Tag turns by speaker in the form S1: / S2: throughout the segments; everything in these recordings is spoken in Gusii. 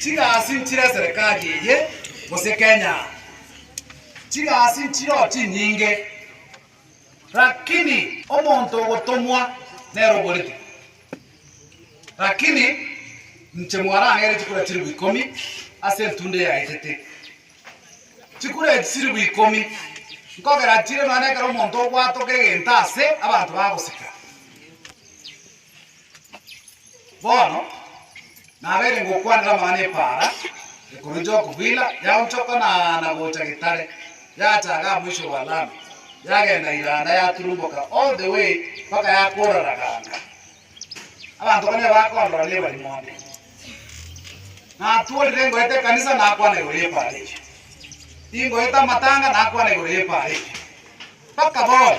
S1: Chigasi nchire eserekari eye gose Kenya? Chigasi nchireo chinyinge, rakini omonto ogotomwa nere oboreti. Rakini inche mwarang'eire chikura chiribu ikomi ase entunda eyaetete. Chikura echi chiribu ikomi nkogera chire nonya nekero omonto obwatoka egento ase abanto bagosika. Bono nabeire ngokwanera amang'ana epaara ekoroche Okobila, yaonchoka na na gocha Getare, yachaga amoiso bwa Lami, yagenda Iranda, yaturumboka all the way mpaka yakora Raganga. Abanto bane bakondora nebari monde. Natworire ngoeta ekanisa nakwana igoro y'epaara eyio. Ingoeta amatanga nakwana igoro y'epaara eyio. Mpaka bono.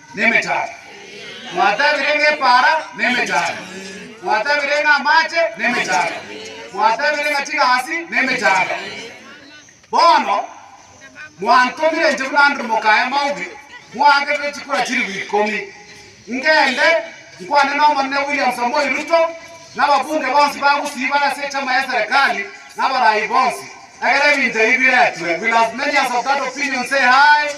S1: nemechacha, mwatabire ng'a epaara nemechacha, mwatabire ng'a amache nemechacha, mwatabire ng'a chigasi nemechacha. Bono mwantomire inche buna Andrew Mokaya Maubi mwangerire chikura chilifu ikomi ngende nkwane n'Omonene William Samoei Ruto na ababunge bonsi ba Gusii bare ase echama y'eserekari na abarai bonsi, Ekero ebinto ebi biretwe, will as many as of that opinion say aye?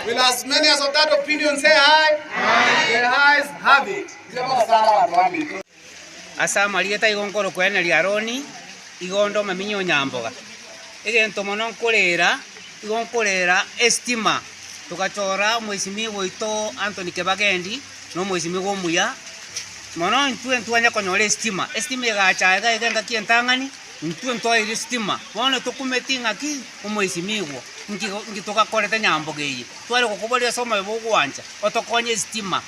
S1: Will as many as of that opinion say aye? The ayes have it. Igo bagosara abanto bambe. Ase amarieta igo nkorokweneria Aroni, igo onde omominyi o Nyamboga. Egento mono nkorera, igo nkorera estima. Togachora omoisimigwa oito Anthony Kebagendi na omoisimigwa omuya, mono intwe ntwanya konyora estima. Estima egacha iga iga engaki entang'ani, Intwe ntoeire sitima, bono tokumeti ng'a ki omoisimigwa, inki inki togakorete nyambogo eye? Tware gokoboria ase omoyo bw'ogwancha, otokonye esitima.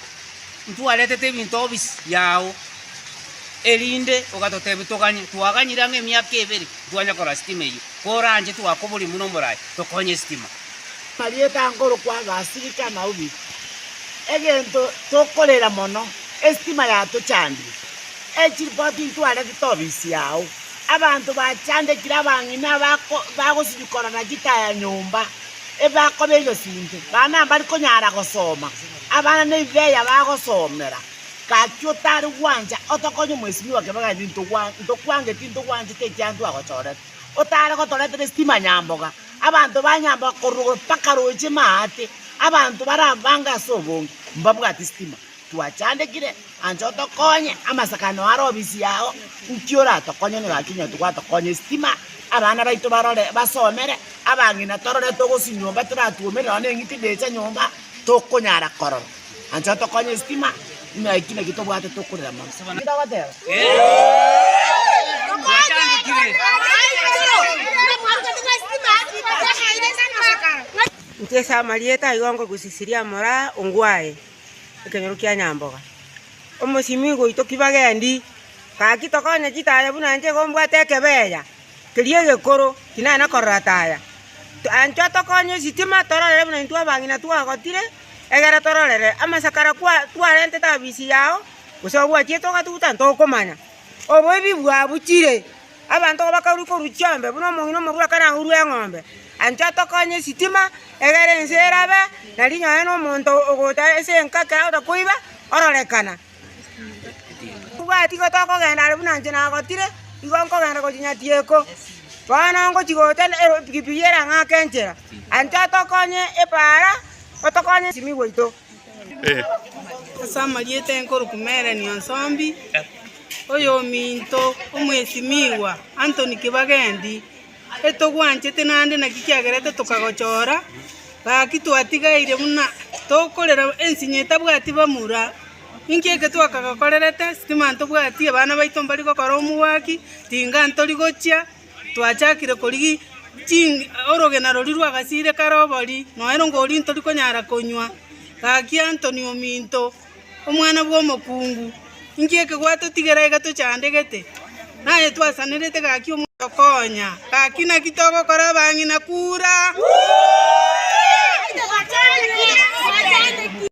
S1: Intwe aretete ebinto obisi yao, erinde ogatotebia toganye. Twaganyire ang'e emiaka ebere, ntwanya korora sitima eyio. Koranche twakoboria buna omorai, tokonye esitima. Marieta nkorokwa agasirika na obi, egento tokorera mono, esitima yatochandire. Echiripoti ntwarete tobisia ao. Abanto bachandekire abang'ina bagosibia korora gita ya nyomba, ebakoba egesunte, bana mbari konyara gosoma, abana nebibeya bagosomera. Gaki otari gwancha, otokonye mwesimi wa kebaga ime ntokwange tintogwanchete ekiagera ntwagochorete. Otare gotoretera esitima nyamboga, abanto ba nyamboga korwa mpaka roche maate, abanto barabange ase obonge, mbabwati sitima. Twachandekire anche otokonye amasakano are obisi yao, nki oratokonye onye gaki onye twatokonye estima abana baito barore basomere abang'ina torore togosi nyomba toratwomerere nonya neng'iti ndecha nyomba tokonyara korora anche otokonye estima buna eki naki tobwate tokorera mono ntagoteba Nchesa amarieta aigo ngogusisiria moraa ongwae. ekenyoro kia Nyamboga. Omosimi igo oito ki bagendi, gaki tokonye chitaya buna nche igo mbwate ekebeya keria egekoro tinana korora taya. Anchwa tokonye esitima tororere buna intwe abang'ina twagotire egere tororere amasakara kwa twarentete abisi yao gose obwachiete ogatuguta ntokomanya. Oboibi bwabuchire. Abanto bakarua korwa Chiobe, buna omong'ina omorua ekero aurwa eng'ombe. Ancha tokonye esitima, egere ense erabe, na rinyoe nomonto ogocha ase enkake agocha koiba, ororekana. Tibwati igo tokogenda are buna inche nagotire, igo nkogenda gochia Nyatieko. Bono ngochia gocha na ero- epigipigi erang'ake enchera. Ancha tokonye epaara, otokonye esimigwa ito. Ase amarieta enkorokwa Mereni Onsombi, oyominto omwesimigwa Anthony Kibagendi, etogwanchete naende naki kiagerete tokagochora, gaki twatigaire buna tokorera ensinyo etabwati bamura. Inki eke twakagokorerete? Stima ntobwati, abana baito mbari gokora omogwaki, ringa ntori gochia, Twachakire korigia ching'iti orogena roria rw'agasiire kare obori, noero ngoria ntori konyara konywa. Gaki Antoni ominto, omwana bw'omokungu, inki ekegwato tigera iga tochandegete? Naye twasanerete gaki omonto okonya. Gaki naki togokora abang'ina kura.